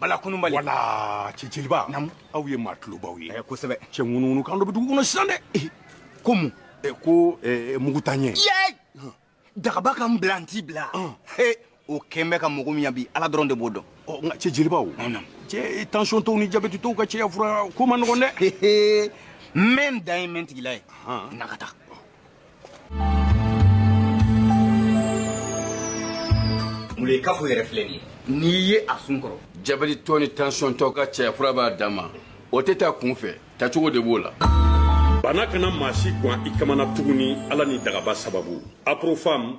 bala kununbali wala cɛ jeliba namu aw ye maa tulobaw ye eh, kosɛbɛ cɛ ŋunuŋunu kan dɔ bɛ dugu kɔnɔ sisan dɛ eh, ko mun eh, ko mugutanyɛ dagaba ka n bila n t'i bila o kɛn bɛ ka mɔgɔ min ɲa bi ala dɔrɔn de b'o dɔn oh, nka cɛ jelibaw cɛ tansiyɔntɔw ni jabɛtitɔw ka cɛya fura ko man nɔgɔn dɛ n bɛ n dan ye n bɛ n tigila ye na ka taa Ye kafo yɛrɛ filɛ ye n'i ye a sun kɔrɔ jabɛtitɔ ni tansiyɔntɔ ka cɛya fura b'a dan ma o tɛ ta kunfɛ tacogo de b'o la bana kana maa si gan i kamana tuguni ni ala ni dagaba sababu aprofam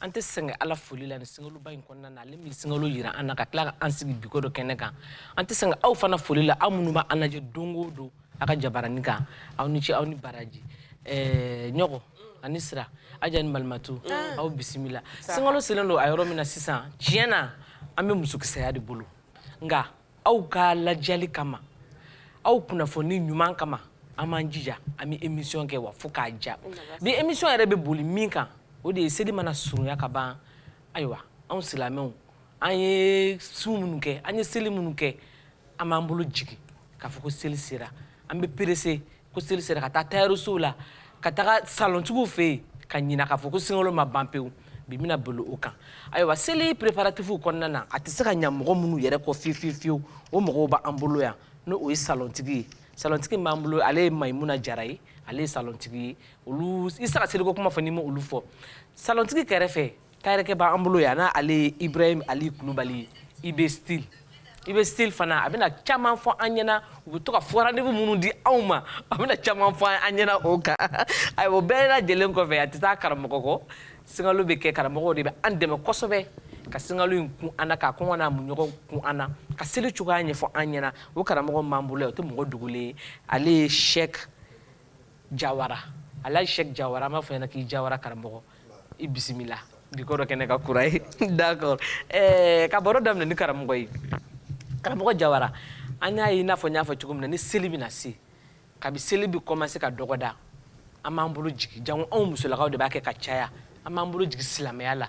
an tɛ sɛgɛn ala foli la nin sinkaloba in kɔnɔna na ale min sinkalo jira an na ka tila ka an sigi biko dɔ kɛnɛ kan an tɛ sɛgɛn aw fana foli la aw minnu bɛ an lajɛ don o don aw ka jabarani kan aw ni ce aw ni baraji ɛɛ ɲɔgɔn ani sira aja ni malimatu mm. aw bisimila sinkalo selen don a yɔrɔ min na sisan tiɲɛ na an bɛ musokisɛya de bolo nka aw ka lajali kama aw kunnafoni ɲuman kama an b'an jija an bɛ emisiyɔn kɛ wa fo k'a ja bi emisiyɔn yɛrɛ bɛ boli min kan o de ye seli mana surunya ka ban ayiwa anw silamɛw an ye sun minnu kɛ an ye seli minnu kɛ an b'an bolo jigin k'a fɔ ko seli sera an bɛ perese ko seli sera ka taa tayɛrisow la ka taga salɔntigiw fɛ yen ka ɲina k'a fɔ ko sinkalo ma ban pewu bi bɛna boli o kan ayiwa seli preparatifuw kɔnɔna na a tɛ se ka ɲa mɔgɔ minnu yɛrɛ kɔ fiyewu fiyewu fiyewu o mɔgɔw b'an bolo yan n'o ye salɔntigi ye salɔntigi min b'an bolo ale ye mayimuna jara ye ale ye salɔntigi ye olu i tɛ se ka seliko kuma fɔ n'i ma olu fɔ salɔntigi kɛrɛfɛ Tayɛrikɛ b'an bolo yan n' ale ye ibrahim ali kulubali ye IB Style IB Style fana a bɛna caman fɔ an ɲɛna u bɛ to ka faux rendez-vous minnu di aw ma a bɛna caman fɔ an ɲɛna o kan a o bɛɛ yɛrɛ lajɛlen kɔfɛ a tɛ taa karamɔgɔ kɔ sinkalo bɛ kɛ karamɔgɔw de bɛ an dɛmɛ kosɛbɛ ka sinkalo in kun an na ka kɔngɔ n'a minnɔgɔ kun an na ka seli cogoya ɲɛfɔ an ɲɛna o karamɔgɔ min b'an bolo o tɛ mɔgɔ dogolen ye ale ye shek jawara alaji shek jawara an b'a fɔ i ɲɛna k'i jawara karamɔgɔ i bisimila bi ko dɔ kɛnɛ kan kura ye d'accord eh, ka baro daminɛ ni karamɔgɔ ye karamɔgɔ jawara an y'a ye i n'a fɔ n y'a fɔ cogo min na ni seli bɛna se kabi seli bɛ kɔmanse ka dɔgɔda an b'an bolo jigi jango anw musolakaw de b'a kɛ ka caya an b'an bolo jigi silamɛya la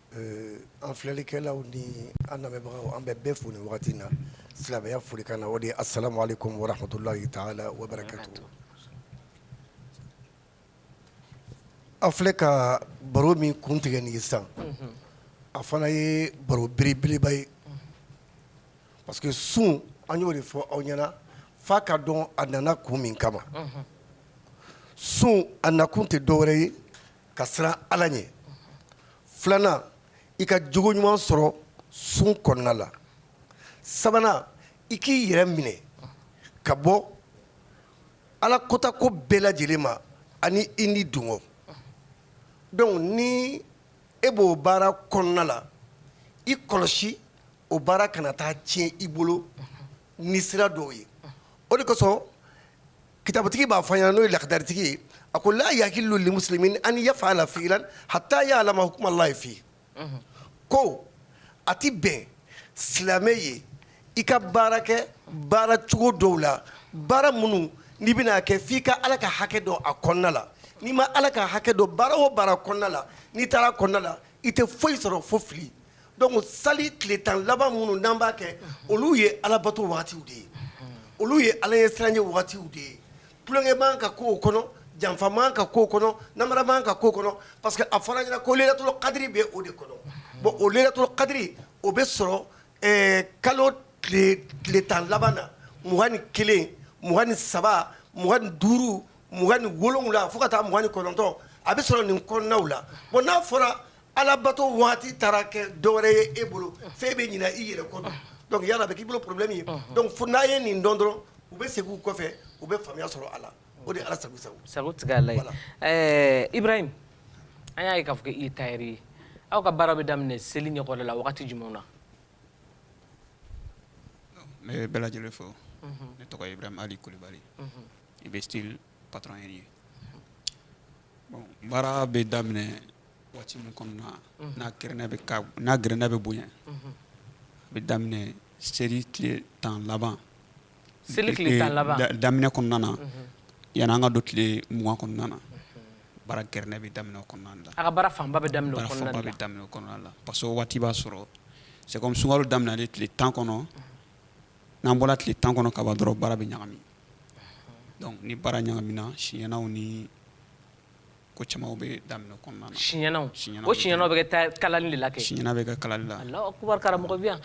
An filɛlikɛlaw ni an lamɛnbagaw an bɛ bɛɛ fo nin wagati in na silamɛya folikan na o de ye asalamu alekum wa ramatulahi taala wa barakatu an filɛ ka baro min kun tigɛ nin sisan a fana ye baro belebeleba ye parce que sun an y'o de fɔ aw ɲɛna f'a ka dɔn a nana kun min kama sun a nakun tɛ dɔwɛrɛ ye ka siran ala ɲɛ filanan i ka jogo ɲuman sɔrɔ sun kɔnɔna la sabanan i k'i yɛrɛ minɛ ka bɔ ala kota ko bɛɛ lajɛlen ma ani i nidungɔ donc ni e b'o baara kɔnɔna la i kɔlɔsi o baara kana taa tiɲɛ i bolo ni sira dɔw ye o de kosɔn kitabutigi b'a fɔ yan n'o ye lakadaritigi ye a ko la yahilu limuslimin an yaf'ala fi'lan hatta ya'lama hukma allahi fi ko a tɛ bɛn silamɛ ye i ka baara kɛ baara cogo dɔw la baara minnu n'i bɛna kɛ f'i ka ala ka hakɛ dɔn a kɔnɔna la n'i ma ala ka hakɛ dɔn baara o baara kɔnɔna la n'i taara kɔnɔna la i tɛ foyi sɔrɔ fo fili Donc sali tile tan laban minnu n'an b'a kɛ olu ye alabato waati de ye olu ye ala ɲɛsiranɲɛ waatiw de ye tulonkɛ man ka k'o kɔnɔ janfa man ka k'o kɔnɔ namara man ka k'o kɔnɔ parce que a fɔr'an ɲɛna ko laylatul qadri bɛ o de kɔnɔ bon o laylatul qadri o bɛ sɔrɔ kalo tile tan laban na mugan ni kelen mugan ni saba mugan ni duuru mugan ni wolowula fo ka taa mugan ni kɔnɔntɔn a bɛ sɔrɔ nin kɔnɔnaw la n'a fɔra Alabato waati taara kɛ dɔwɛrɛ ye e bolo f'e bɛ ɲina i yɛrɛ kɔ donc yala a bɛ k'i bolo problème ye donc fo n'a ye nin dɔn dɔrɔn u bɛ segin u kɔfɛ u bɛ faamuya sɔrɔ a la o de ala sago sago sagotigi ye ala ye ibrahim an y'a ye k'a fɔ k'i ye tailleur ye aw ka baara bɛ daminɛ seli ɲɛkɔrɔla la waati jumɛn na ne bɛ bɛɛ lajɛlen fo ne tɔgɔ ye ibrahim ali kulubali IB style patron ye baara bɛ daminɛ waati min kɔnɔna n'a gɛrɛnda bɛ bonya a bɛ daminɛ seli tile tan laban seli daminɛ kɔnɔna na yanni an ka don tile mugan kɔnɔna na baara gɛrɛnda bɛ daminɛ o kɔnɔna la a ka baara fanba bɛ daminɛ o kɔnɔna la parce que o waati b'a sɔrɔ c'est comme sunkalo daminɛlen tile tan kɔnɔ n'an bɔra tile tan kɔnɔ ka ban dɔrɔn baara bɛ ɲagami donc ni baara ɲagamina siɲɛnaw ni Ko camanw bɛ daminɛ kɔnɔna na siɲɛnaw o siɲɛnaw bɛ kɛ kalali de la siɲɛna bɛ kɛ kalali la karamɔgɔ bɛ yan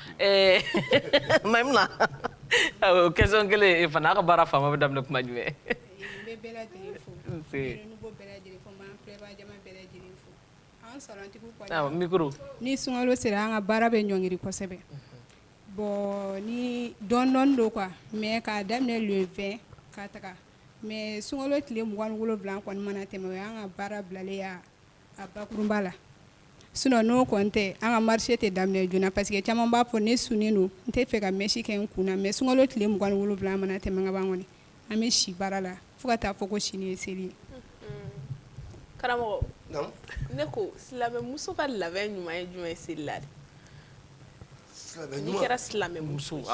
maimuna question kelen fana a' ka baara fanba bɛ daminɛ kuma jumɛn ni sunkalo sera an ka baara bɛ ɲɔngiri kosɛbɛ bon ni dɔɔnin dɔɔnin don quoi mais k'a daminɛ le vingt ka taga Mais sunkalo tile mugan ni wolonwula kɔni mana tɛmɛ o an ka baara bilalen a bakurunba la sinon n'o kɔni tɛ an ka marché tɛ daminɛ joona parce que caman b'a fɔ ne sunnen don n tɛ fɛ ka mèche kɛ n kun na mais sunkalo tile mugan ni wolonwula mana tɛmɛ kaban kɔni an bɛ si baara la fo ka taa fɔ ko sini ye seli ye karamɔgɔ ne ko silamɛmuso ka labɛn ɲuman ye jumɛn ye seli la n'i kɛra silamɛmuso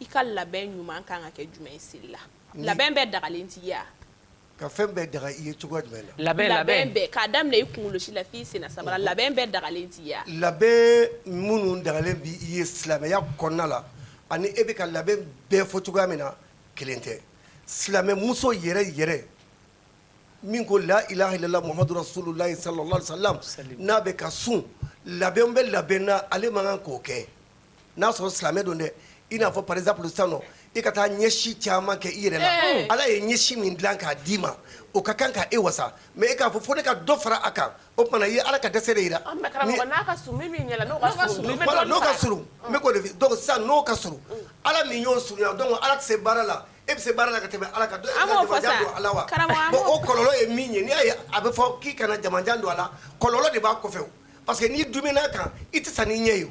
i ka labɛn ɲuman kan ka kɛ jumɛn ye seli la labɛn bɛɛ dagalen t'i ye wa ka fɛn bɛɛ daga i ye cogoya jumɛn la labɛn bɛɛ k'a daminɛ i kunkolosi la f'i sen sabara labɛn bɛɛ dagalen t'i ye labɛn minnu dagalen b'i ye silamɛya kɔnɔna la ani e bɛ ka labɛn bɛɛ fɔ cogoya min na kelen tɛ silamɛmuso yɛrɛ yɛrɛ min ko la ilaha illallah muhammadu rasulullahi sallallahu alaihi wasallam n'a bɛ ka sun labɛn bɛ labɛn na ale man kan k'o kɛ n'a sɔrɔ silamɛ don dɛ i n'a fɔ par exemple sisan nɔ i ka taa ɲɛsi caman kɛ i yɛrɛ la ala ye ɲɛsi min dilan k'a d'i ma o ka kan k'e wasa mais e k'a fɔ fo ne ka dɔ fara a kan o tuma na i ye ala ka dɛsɛ de yira n'o ka surun donc sisan n'o ka surun ala min y'o surunya donc ala tɛ se baara la e bɛ se baara la ka tɛmɛ ala kan ala wa bon o kɔlɔlɔ ye min ye n'i y'a ye a bɛ fɔ k'i kana jamajan don a la kɔlɔlɔ de b'a kɔfɛ Parce que n'i duumɛna a kan i tɛ sa n'i ɲɛ ye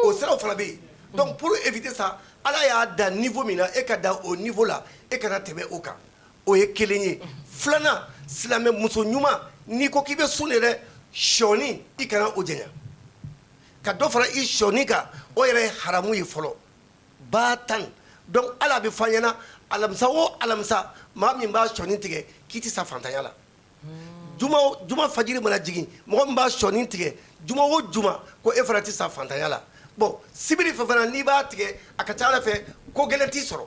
o siraw fana bɛ yen donc pour éviter ça ala y'a da niveau min na e ka da o niveau la e kana tɛmɛ o kan o ye kelen ye filanan silamɛ muso ɲuman n'i ko k'i bɛ sun de dɛ sɔɔni i kana o janya ka dɔ fara i sɔɔni kan o yɛrɛ ye haramu ye fɔlɔ ba tan donc ala b'a fɔ an ɲɛna alamisa o alamisa maa min b'a sɔɔni tigɛ k'i tɛ sa fantanya la juma fajiri mana jigin mɔgɔ min b'a sɔɔni tigɛ juma o juma ko e fana tɛ sa fantanya la bon sibiri fɛ fana n'i b'a tigɛ a ka ca ala fɛ ko gɛlɛn t'i sɔrɔ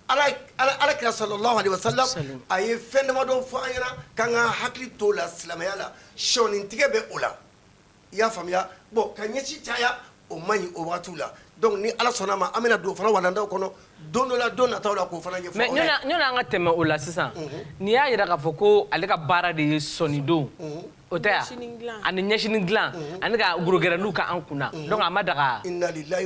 ala kira sallallahu alaihi wasallam a ye fɛn damadɔ fɔ an ɲɛna k'an ka hakili to la silamɛya la sɔɔni tigɛ bɛ o la i y'a faamuya bon ka ɲɛsi caya o man ɲi o waati la donc ni Ala sɔnna ma an bɛna don o fana walandaw kɔnɔ don dɔ la don nataw la k'o fana ɲɛfɔ mais yani an ka tɛmɛ o la sisan n'i y'a jira k'a fɔ ko ale ka baara de ye sɔnidon o tɛ wa ani ɲɛsini dilan ani ka gorogɛrɛniw k'an kun na donc a ma daga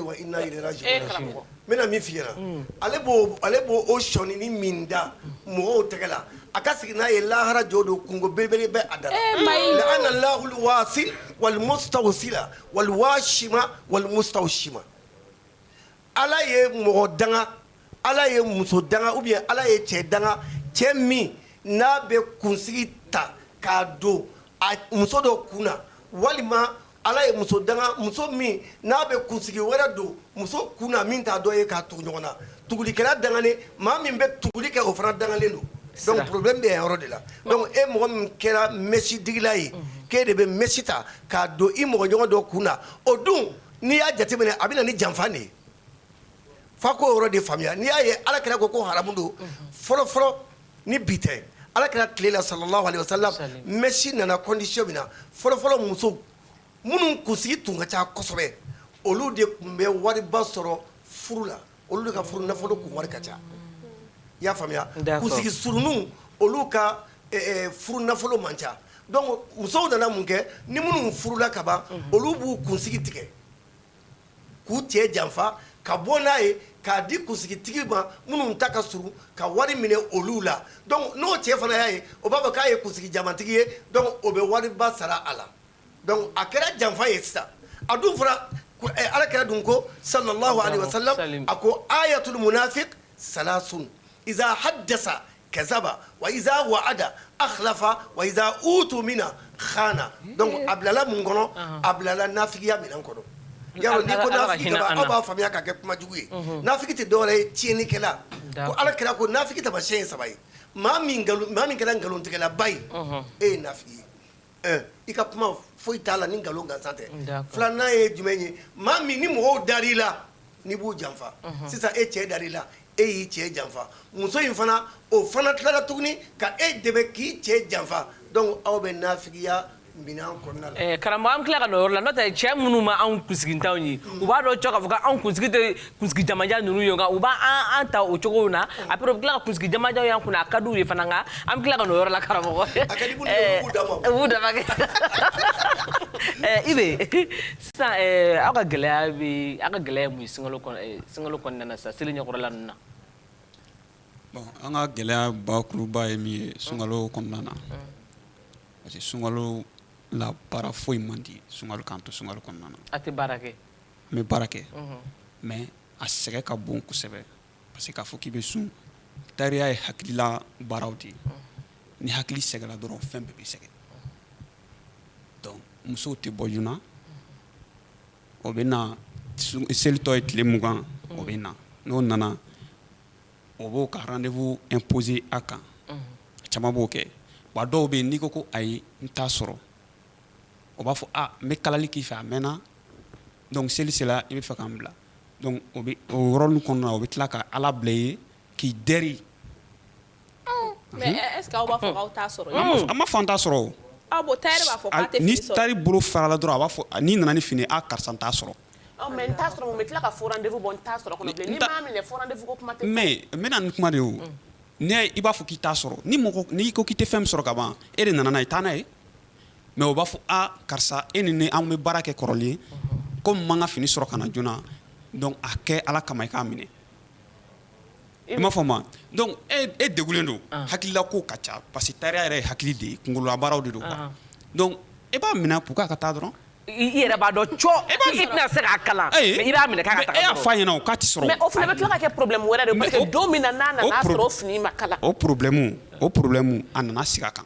wa n bɛna min f'i ɲɛna, un, ale b'o ale b'o o sɔnini min da mɔgɔw tɛgɛ la, a ka sigi n'a ye lahara jɔ don kunko belebele bɛ a da la, la'ana allahu alwasila walmustawsila walwashima walmustawshima, Ala ye mɔgɔ danga, Ala ye muso danga ou bien Ala ye cɛ danga, cɛ min n'a bɛ kunsigi ta k'a don a muso dɔ kun na walima Ala ye muso danga muso min n'a bɛ kunsigi wɛrɛ don muso kun na min t'a dɔ ye k'a tugu ɲɔgɔn na tugulikɛla dangalen maa min bɛ tuguli kɛ o fana dangalen don donc problème bɛ yan yɔrɔ de la donc e mɔgɔ min kɛra mɛsi digila ye k'e de bɛ mɛsi ta k'a don i mɔgɔ ɲɔgɔn dɔ kun na o dun n'i y'a jateminɛ a bɛ na ni janfa de ye fa k'o yɔrɔ de faamuya n'i y'a ye Ala kira ko ko haramu don fɔlɔfɔlɔ ni bi tɛ ala kira tile la sallallahu alaihi wasallam mɛsi nana condition min na fɔlɔfɔlɔ musow minnu kunsigi tun ka ca kosɛbɛ olu de tun bɛ wariba sɔrɔ furu la olu de ka furu nafolo kun wari ka ca i y'a faamuya kunsigi surun olu ka furu nafolo man ca donc musow nana mun kɛ ni minnu furula kaban olu b'u kunsigi tigɛ k'u cɛ janfa ka bɔ n'a ye k'a di kunsigitigi ma minnu ta ka surun ka wari minɛ olu la donc n'o cɛ fana y'a ye o b'a fɔ k'a ye kunsigi jamantigi ye donc o bɛ wariba sara a la donc a kɛra janfa ye sisan a dun fɔra ala kira dun ko sallallahu alaihi wasallam a ko ayatul munafik salasun iza hadasa kazaba wa iza wa'ada akhlafa wa iza utumina khana donc a bilala mun kɔnɔ a bilala nafigiya minɛn kɔnɔ yaro n'i ko nafigi aw b'a faamuya ka kɛ kuma jugu ye nafigi tɛ dɔwɛrɛ ye tiɲɛnikɛla ko ala kira ko nafigi tamasiyɛn ye saba ye maa min kɛra nkalontigɛlaba ye e ye nafigi ye i ka kuma foyi t'a la ni nkalon gansan tɛ filanan ye jumɛn ye maa min ni mɔgɔw dara i la n'i b'u janfa sisan e cɛ dara i la e y'i cɛ janfa muso in fana o fana tilala tuguni ka e dɛmɛ k'i cɛ janfa donc aw bɛ nafigiya minɛn kɔnɔna karamɔgɔ an tila ka n'o yɔrɔ la n'o tɛ cɛ minnu ma anw kunsigintanw ye u b'a dɔn k'a fɔ k'anw kunsigi jamajan ninnu ye nka u b'an ta o cogo na après u bɛ tila ka kunsigi jamajanw y'an kunna a ka d'u ye fana nka an bɛ tila ka n'o yɔrɔ la karamɔgɔ u b'u dama kɛ ibe sisan aw ka gɛlɛya bɛ aw ka gɛlɛya ye mun ye sunkalo sunkalo kɔnɔna na sisan seli ɲɛkɔrɔla ninnu na bon an ka gɛlɛya bakuruba ye min ye sunkalo kɔnɔna na parce que sunkalo la baara foyi man di sunkalo k'an to sunkalo kɔnɔna na a tɛ baara kɛ an bɛ baara kɛ mais a sɛgɛn ka bon kosɛbɛ parce que k'a fɔ k'i bɛ sun tayɛriya ye hakilila baaraw de ye ni hakili sɛgɛnna dɔrɔn fɛn bɛɛ bɛ sɛgɛn donc musow tɛ bɔ joona o bɛ na seli tɔ ye tile mugan o bɛ na n'o nana o b'o ka rendez-vous imposer a kan a caman b'o kɛ wa dɔw bɛ yen n'i ko ko ayi n t'a sɔrɔ o b'a fɔ a n bɛ kalali k'i fɛ a mɛnna Donc seli sera i bɛ fɛ k'an bila donc o bɛ o yɔrɔnin kɔnɔna na o bɛ tila ka Ala bila i ye k'i dɛri, ɔn, mais est ce que aw b'a fɔ k'aw t'a sɔrɔ yen, an ma fɔ k'an t'a sɔrɔ o, ɔ bon tailleur b'a fɔ k'a tɛ fini sɔrɔ, ni tailleur bolo farala dɔrɔn a b'a fɔ n'i nana ni fini ye aa karisa n t'a sɔrɔ, ɔ mais n t'a sɔrɔ mun bɛ tila ka faux rendez vous bɔ n t'a sɔrɔ kɔnɔ bilen, n'i m'a minɛ faux rendez vous ko kuma tɛ fɔ, mais n bɛ na ni kuma de ye o, n'i y'a ye i b'a fɔ k'i t'a sɔrɔ ni mɔgɔ n'i ko k'i tɛ fɛn min sɔrɔ ka ban e de nana n'a ye taa n'a ye mɛ o b'a fɔ karisa e ni an bɛ baara kɛ kɔrɔlen ko man ka fini sɔrɔ kana joona a kɛ ala kama i k'a minɛ i m'a fɔ ma e deg don hakilila ko ka ca pa que ta yɛrɛ ye hakili de yekolobaw de don e b'a minɛ k' ka taa dɔrɔn i yɛrɛ b'a dɔn e se kalan i b'a minɛ ɲɛna o' tɛ sɔrɔ o fana bɛ kɛ porobi wɛrɛ don min na o porobi o porobi a nana sigi a kan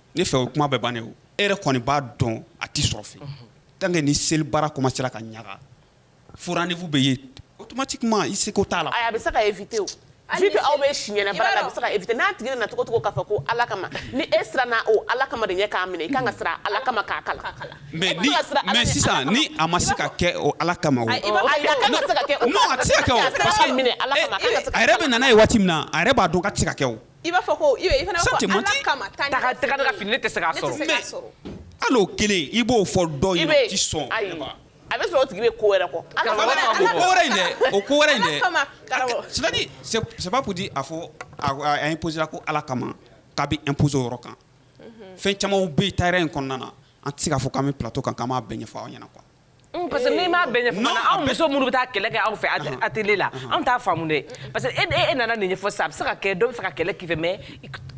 ne fɛ o kuma bɛɛ bannen o e yɛrɛ kɔni b'a dɔn a tɛ sɔrɔ fɛ tant que ni seli baara commencera ka ɲaga faux rendez vous bɛ ye automatiquement i seko t'a la a bɛ se ka éviter a bɛ se ka éviter n'a tigi nana cogo cogo k'a fɔ ko ala kama ni e siranna o ala kama de ɲɛ k'a minɛ i ka kan ka siran ala kama k'a kalan mais sisan ni a ma se ka kɛ o ala kama a kan ka se ka kɛ a yɛrɛ bɛ na n'a ye waati min na a yɛrɛ b'a dɔn k'a tɛ se ka kɛ I b'a fɔ ko fini tɛ alao kelen i b'o fɔ sɔn a bɛ sɔrɔ tigi ko wɛrɛ kɔ sababudi a fɔ a psi ko ala kama k'a bɛ epz yɔrɔ kan fɛn caman bɛ ta in kɔnɔna na an tɛ se k'a fɔ' bɛ ptɔ kan ka' bɛn ɲɛfɔ aw ɲɛna kuwa Parce que n'i m'a bɛɛ ɲɛfɔ fana anw muso minnu bɛ taa kɛlɛ kɛ aw fɛ atelier la anw t'a faamu dɛ parce que e nana nin ɲɛfɔ sisan a bɛ se ka kɛ dɔ bɛ fɛ ka kɛlɛ k'i fɛ mais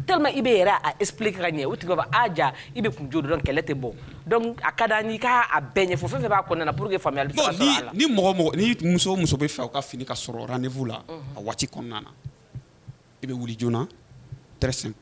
tellement i bɛ yɛrɛ a expliquer ka ɲɛ o tigi b'a fɔ a jaa i bɛ kun ju dɔn kɛlɛ tɛ bɔ donc a ka d'an ye i k'a bɛɛ ɲɛfɔ fɛn o fɛn b'a kɔnɔna na pour que faamuyali bɛ se ka sɔrɔ a la. Ni mɔgɔ o mɔgɔ ni muso o muso bɛ fɛ u ka fini ka sɔrɔ rendez-vous la a waati kɔnɔna na i bɛ wuli joona très simple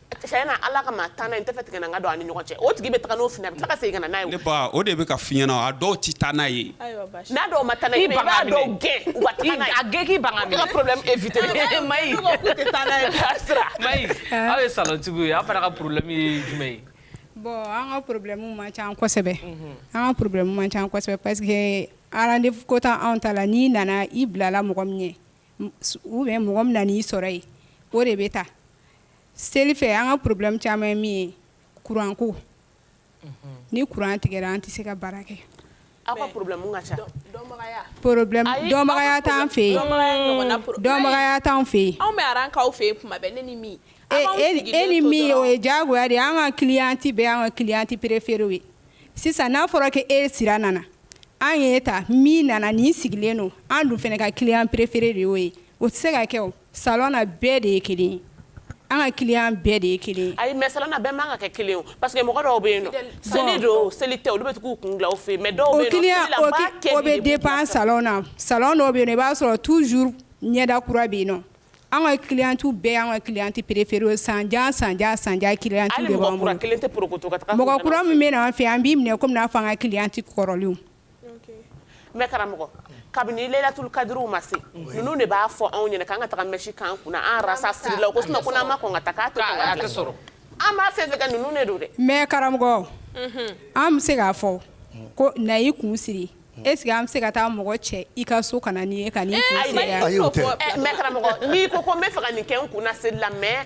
Ala o de bɛ ka f'i ɲɛna a dɔw tɛ taa n'a ye aw ye salontigiw ye aw fana ka problème ye jumɛn ye bon an ka problème man ca kosɛbɛ an ka problème man ca kosɛbɛ parce que rendez vous ko ta anw ta la n'i nana i bilala mɔgɔ min ɲɛ ou bien mɔgɔ min nan'i sɔrɔ yen o de bɛ taa seli fɛ an ka problème caman ye min ye courant ko ni courant tigɛra an tɛ se ka baara kɛ aw ka problème ka ca dɔnbagaya dɔnbagaya t'an fɛ yen dɔnbagaya t'an fɛ yen anw bɛ aran k'aw fɛ yen tuma bɛɛ ne ni min e ni min o ye diyagoya de ye an ka cliente bɛɛ y'an ka cliente préférée ye sisan n'a fɔra ko e sira nana an y'e ta min nana nin sigilen don an dun fana ka client préférée de y'o ye o tɛ se ka kɛ o Sa bɛɛ de ye kelen an ka ki bɛɛ de ye kelen a mɛ sa bɛɛ man kan ka kɛ kelen pa que mɔgɔ dɔw bɛ yen seli don seli tɛ olu bɛ k'u kun fɛ yen mɛ dɔw bɛ den pan sa na sa dɔw bɛ yen i b'a sɔrɔ tu ɲɛda kura bɛ yen nɔn an ka kitu bɛɛ an ka ki tɛ perefeere san jan san san kelen tɛ mɔgɔ kura min bɛ an fɛ an b'i minɛ kɔmi n'a fɔ an ka kilen tɛ kɔrɔlen Mɛ karamɔgɔ kabini laturu kadi ma se ninnu de b'a fɔ anw ɲɛna k' ka taa misi kan kun an ma ka an b'a fɛ ka ninnu de don dɛ mɛ karamɔgɔ an bɛ se k'a fɔ ko na i kun siri e sigi an bɛ se ka taa mɔgɔ cɛ i ka so ka nin ko n bɛ faga nin kɛ kun la mɛ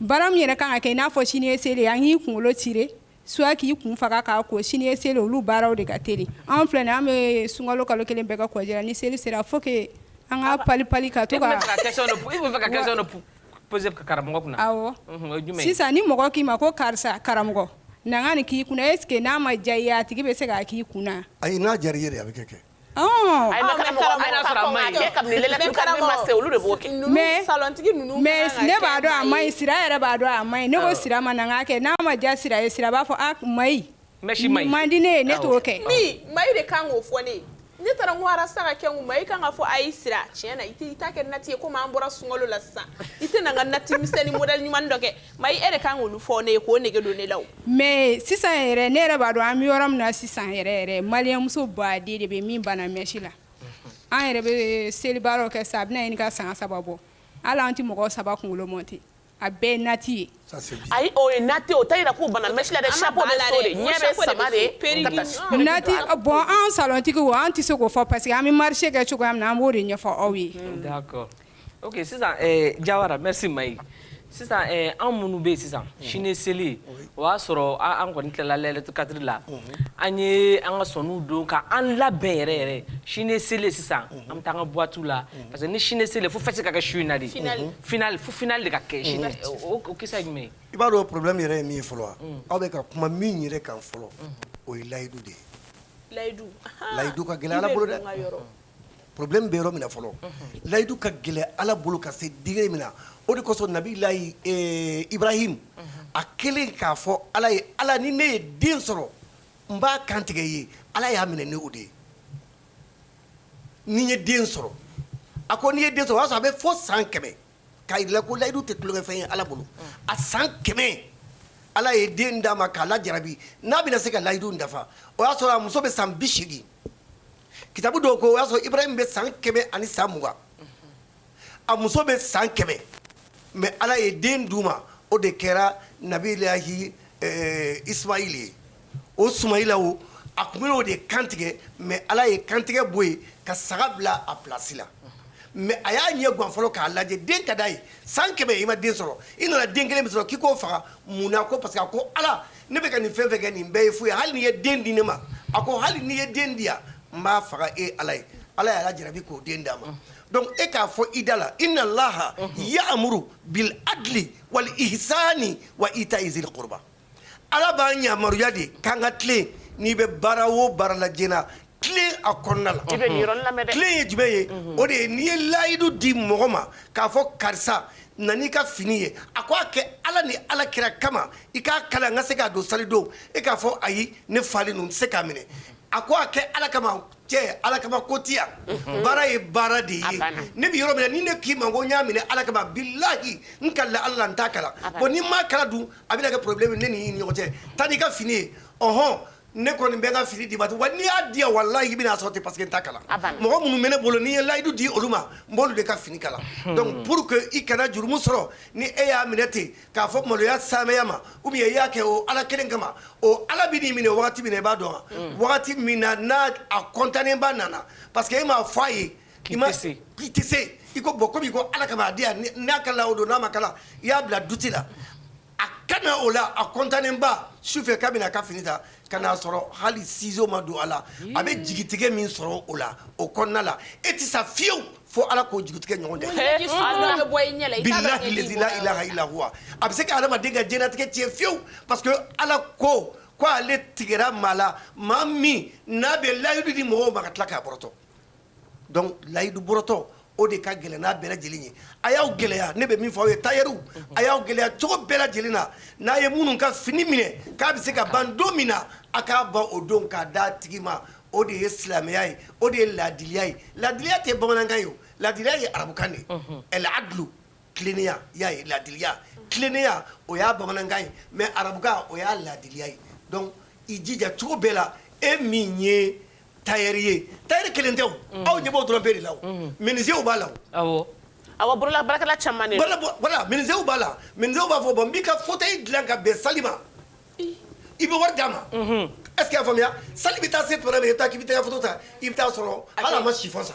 Baara min yɛrɛ kan ka kɛ n'a fɔ sini seli an k'i kunkolo tirer soit k'i kun faga k'a ko sini seli olu baaraw de ka teli an filɛ an bɛ sunkalo kalo kelen bɛɛ kɛ congé la ni seli sera fo an ka pali pali ka to sisan ni mɔgɔ k'i ma ko karisa karamɔgɔ na n ka nin k'i kun na est-ce que n'a ma diya a tigi bɛ se k'a k'i kun na ayi n'a B'a dɔn a man ɲi sira yɛrɛ b'a dɔn a man ɲi ne ko sira ma na n k'a kɛ n'a ma diya sira ye sira b'a fɔ a mayi a man di ne ye ne t'o kɛ mayi de kan k'o fɔ ne ye ne taara n ko rasa ka kɛ n kun mayi kan k'a fɔ ayi sira tiɲɛ na i t'a kɛ nati ye comme an bɔra sunkalo la sisan i tɛ na n ka nati misɛnnin modèle ɲuman dɔ kɛ Mayi de kan k'olu fɔ ne ye k'o nege don ne la mais sisan yɛrɛ ne yɛrɛ b'a dɔn an bɛ yɔrɔ min na sisan yɛrɛ malien muso baden de bɛ min banna mèche la an yɛrɛ bɛ seli baara kɛ sa a bɛna ɲini ka san saba bɔ hali an tɛ mɔgɔ saba kunkolo monter a bɛɛ nati ye ayi o ye nati o t'a yira k'u banna mèche la dɛ nati bon an salontigiw an tɛ se k'o fɔ parce que an bɛ marché kɛ cogoya min na an b'o de ɲɛfɔ aw ye ok sisan eh, jawara merci mayi sisan eh, an minnu bɛ yen sisan mhm. sini seli o y'a sɔrɔ an kɔni tilala layilatul kadiri la mhm. an ye an ka sɔniw don ka an labɛn yɛrɛ yɛrɛ sini seli sisan mhm. an bɛ taa an ka boîte la parce que ni sini seli fo fête ka kɛ su in na de finale fo finale de ka kɛ sini o kisa ye jumɛn ye i b'a dɔn problème yɛrɛ ye min ye fɔlɔ wa mm. aw bɛ ka kuma min yɛrɛ kan fɔlɔ o ye layidu de ye layidu layidu ka gɛlɛn ala bolo dɛ problème bɛ yɔrɔ min na fɔlɔ, unhun, layidu ka gɛlɛn Ala bolo ka se degré min na, o de kosɔn nabilahi ee Ibrahim a kɛlen k'a fɔ Ala ye Ala ni ne ye den sɔrɔ n b'a kantigɛ i ye Ala y'a minɛ ni o de ye ni n ye den sɔrɔ, a ko n'i ye den sɔrɔ o y'a sɔrɔ a bɛ fo san kɛmɛ k'a jir'i la ko layidu tɛ tulonkɛfɛn ye Ala bolo, a san kɛmɛ Ala ye den d'a ma k'a lajarabi n'a bɛna se ka layidu in dafa o y'a sɔrɔ a muso bɛ san bi seegin kitabu dɔw ko o y'a sɔrɔ Ibrahim bɛ san kɛmɛ ani san mugan a muso bɛ san kɛmɛ mais Ala ye den d'u ma o de kɛra nabilahi Ismail ye o Sumayila o a tun bɛn'o de kantigɛ mais ala ye kantigɛ bɔ yen ka saga bila a plasi la mais a y'a ɲɛ gan fɔlɔ k'a lajɛ den ka d'a ye san kɛmɛ i ma den sɔrɔ i nana den kelen min sɔrɔ k'i k'o faga mun na ko parce que a ko ala ne bɛ ka nin fɛn fɛn kɛ nin bɛɛ ye fu ye hali n'i ye den di ne ma a ko hali n'i ye den di yan n b'a faga e ala ye ala y'a lajarabi k'o den d'a ma donc e k'a fɔ i da la inna laha yamuru bil adli wal ihsani wa itai zil qurba Ala b'an yamaruya de k'an ka tilen n'i bɛ baara o baara la diɲɛ na tilen a kɔnɔna la tilen ye jumɛn ye o de ye n'i ye layidu di mɔgɔ ma k'a fɔ karisa na n'i ka fini ye a ko a kɛ ala ni ala kira kama i k'a kala n ka se k'a don salidon e k'a fɔ ayi ne falen don n tɛ se k'a minɛ a ko a kɛ ala kama cɛ ala kama ko tɛ yan baara ye baara de ye ne bɛ yɔrɔ min ni ne k'i ma ko n y'a minɛ ala kama bilahi n kalila ala la n t'a kala bon ni n m'a kala dun A bɛna kɛ problème ye ne ni e ni ɲɔgɔn cɛ taa n'i ka fini ye ɔnhɔn ne kɔni bɛ n ka fini d'i ma wa n'i y'a di yan walahi i bɛna a sɔrɔ ten parce que n t'a kala, a banna, mɔgɔ minnu bɛ ne bolo n'i ye layidu di olu ma n b'olu de ka fini kala donc pour que i kana jurumu sɔrɔ ni e y'a minɛ ten k'a fɔ maloya saamɛya ma ou bien i y'a kɛ o Ala kelen kama o Ala bɛ n'i minɛ wagati min na i b'a dɔn wa wagati min na n'a a kɔntanenba nana parce que e m'a fɔ a ye k'i tɛ se i ko bon komi i ko ala kama a di yan n'a kala o don n'a ma kala i y'a bila duti la a ka na o la a kɔntanenba su fɛ k'a bɛna a ka fini ta ka n'a sɔrɔ hali sizo ma don a la a bɛ jigitigɛ min sɔrɔ o la o kɔnɔna la e tɛ sa fiyewu fo ala k'o jigitigɛ ɲɔgɔn dɛ bilahi lezi la ilaha illa huwa a bɛ se ka adamaden ka diɲɛlatigɛ tiɲɛ fiyewu parce que ala ko ko ale tigɛra maa la maa min n'a bɛ layidu di mɔgɔw ma ka tila k'a bɔrɔtɔ donc layidu bɔrɔtɔ o de ka gɛlɛn n'a bɛɛ lajɛlen ye, a y'aw gɛlɛya ne bɛ min fɔ aw ye tailleur a y'aw gɛlɛya cogo bɛɛ lajɛlen na, n'a ye minnu ka fini minɛ k'a bɛ se ka ban don min na a k'a ban o don k'a d'a tigi ma o de ye silamɛya ye o de ye laadiliya ye, laadiliya tɛ bamanankan ye o, laadiliya ye arabukan de ye, unhun, al adulu tilennenya i y'a ye laadiliya tilennenya o y'a bamanankan ye mais arabukan o y'a laadiliya ye donc i jija cogo bɛɛ la e min ye tari ye tari kelen tɛ aw ɲɛ b'o dɔrɔn bereereri la minzw b'a la aw bolola bara caman minw b'a la min b'a fɔ bɔn n' ka fɔ e dilan ka bɛn sa ma i bɛ wari d'a ma ɛseke y'a faamuya sa bɛ taa se toɛ min i taa k'i bɛ taa ta i bɛ taa sɔrɔ ala ma si sa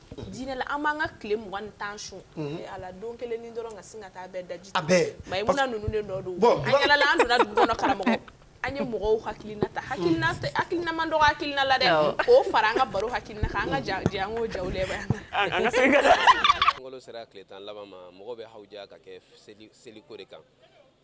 Dinɛ la an b'an ka tile mugan ni tan sun a la don kelennin dɔrɔn ka sin ka taa bɛɛ daji a bɛɛ mais parce que Mayimuna ninnu de nɔ don bon an yaalala an donna dugu kɔnɔ karamɔgɔ an ye mɔgɔw hakilina ta hakilina tɛ hakilina man dɔgɔ hakilina la dɛ awɔ k'o fara an ka baro hakilina kan an ka ja ja an k'o jaw lajɛ ba an na an an ka segin ka taa sunkalo sera tile tan laban ma mɔgɔw bɛ hawuja ka kɛ seli seliko de kan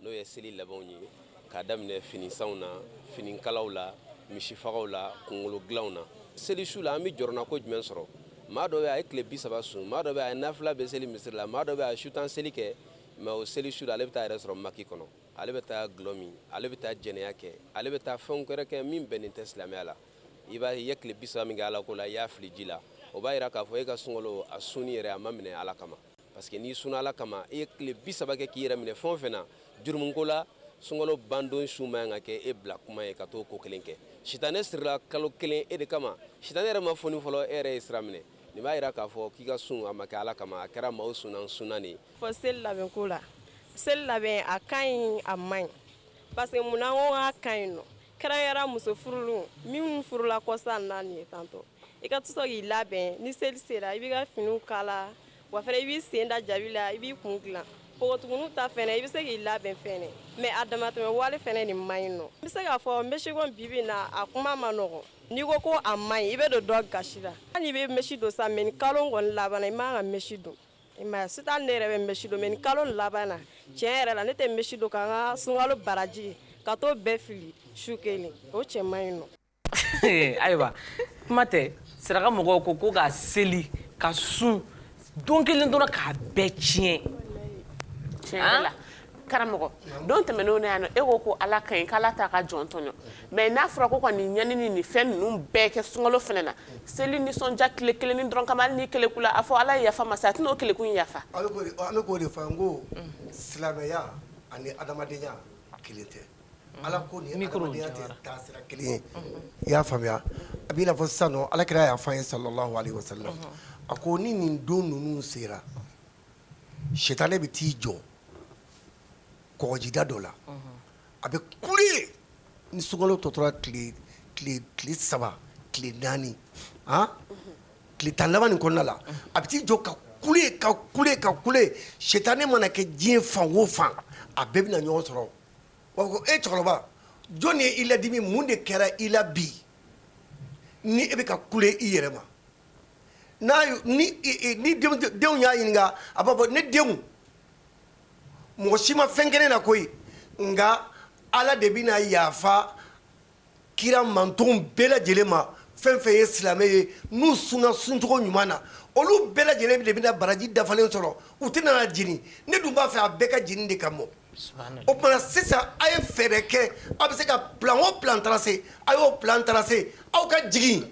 n'o ye seli labɛnw ye k'a daminɛ finisanw na finikalaw la misifagaw la kungolo dilanw na seli su la an bɛ jɔrɔnako jumɛn sɔrɔ maa dɔ bɛ a ye tile bi saba sun maa dɔ bɛ a ye nafila bɛɛ seli misiri la maa dɔ bɛ a ye su tan seli kɛ mais o seli su la ale bɛ taa yɛrɛ sɔrɔ maki kɔnɔ ale bɛ taa gulɔ min ale bɛ taa jɛnɛya kɛ ale bɛ taa fɛnw wɛrɛ kɛ min bɛnnen tɛ silamɛya la i b'a ye i ye tile bi saba min kɛ ala ko la i y'a fili ji la o b'a yira k'a fɔ e ka sunkalo a sunni yɛrɛ a ma minɛ ala kama parce que n'i sunna ala kama i ye tile bi saba kɛ k'i yɛrɛ minɛ fɛn o fɛn na jurumuko la sunkalo bandon su man kan ka kɛ e bila kuma ye ka t'o ko kelen kɛ sitanɛ sirila kalo kelen e de kama sitanɛ yɛrɛ ma foni fɔlɔ e yɛrɛ ye sira minɛ nin b'a yira k'a fɔ k'i ka sun a ma kɛ ala kama a kɛra maaw sunna n sunna de ye fɔ seli labɛnko la seli labɛn a ka ɲi a man ɲi parce que mun na ko k'a ka ɲi nɔ kɛrɛnkɛrɛn muso furulenw minnu furula kɔsa na nin ye tantɔ i ka tɔsɔ k'i labɛn ni seli sera i b'i ka finiw kala wa fɛnɛ i b'i sen da jabi la i b'i kun dilan npogotiginiw ta fɛnɛ i bɛ se k'i labɛn fɛnɛ mais a damatɛmɛ wale fɛnɛ nin man ɲi nɔ n bɛ se k'a fɔ mɛsiko in bibi in na a kuma man nɔgɔn n'i ko ko a man ɲi i bɛ don dɔ gasi la hali n'i bɛ mɛsi don sa mais ni kalo kɔni labanna i man ka mɛsi don m'a ye Sitan ne yɛrɛ bɛ mɛsi don mais ni kalo labanna tiɲɛ yɛrɛ la ne tɛ mɛsi don ka n ka sunkalo baraji ka t'o bɛɛ fili su kelen o cɛ man ɲi nɔ ayiwa kuma tɛ saraka mɔgɔw ko ko ka seli ka sun don kelen dɔrɔn k'a bɛɛ tiɲɛ Karamɔgɔ don tɛmɛnenw na yan e ko ko ala ka ɲi k'ala t'a ka jɔn tɔɲɔ mais n'a fɔra ko ka nin ɲani ni fɛn ninnu bɛɛ kɛ sunkalo fɛnɛ na seli nisɔndiya tile kelennin dɔrɔn kama hali n'i kelekula a fɔ ala ye yafa masa a tɛna o keleku in yafa an bɛ k'o de fɔ ko silamɛya ani adamadenya kelen tɛ ala ko ni adamadenya tɛ taasira kelen ye i y'a faamuya a b'i n'a fɔ sisan ala kira y'a fɔ an ye sallallahu alaihi wasallam a ko ni nin don ninnu sera sitanɛ bɛ t'i jɔ kɔgɔjida dɔ la a bɛ kule ni sunkalo tɔ tora tile saba tile naani tile tan laban nin kɔnɔna la a bɛ t'i jɔ ka kule ka kule ka kule sitanɛ mana kɛ diɲɛ fan o fan a bɛɛ bɛna ɲɔgɔn sɔrɔ ko e cɛkɔrɔba jɔn ye i ladimi mun de kɛra i la bi ni e bɛ ka kule i yɛrɛ ma ni denw y'a ɲininka a b'a fɔ ne denw mɔgɔ si ma fɛn kɛ ne na koyi nka ala de bɛna yafa kira mantonw bɛɛ lajɛlen ma fɛn fɛn ye silamɛ ye n'u sunna suncogo ɲuman na olu bɛɛ lajɛlen de bɛna baraji dafalen sɔrɔ u tɛna na jeni ne dun b'a fɛ a bɛɛ ka jeni de ka mɔ o tuma sisan a ye fɛɛrɛ kɛ a bɛ se ka plan o plan tracer a y'o plan tracer aw ka jigin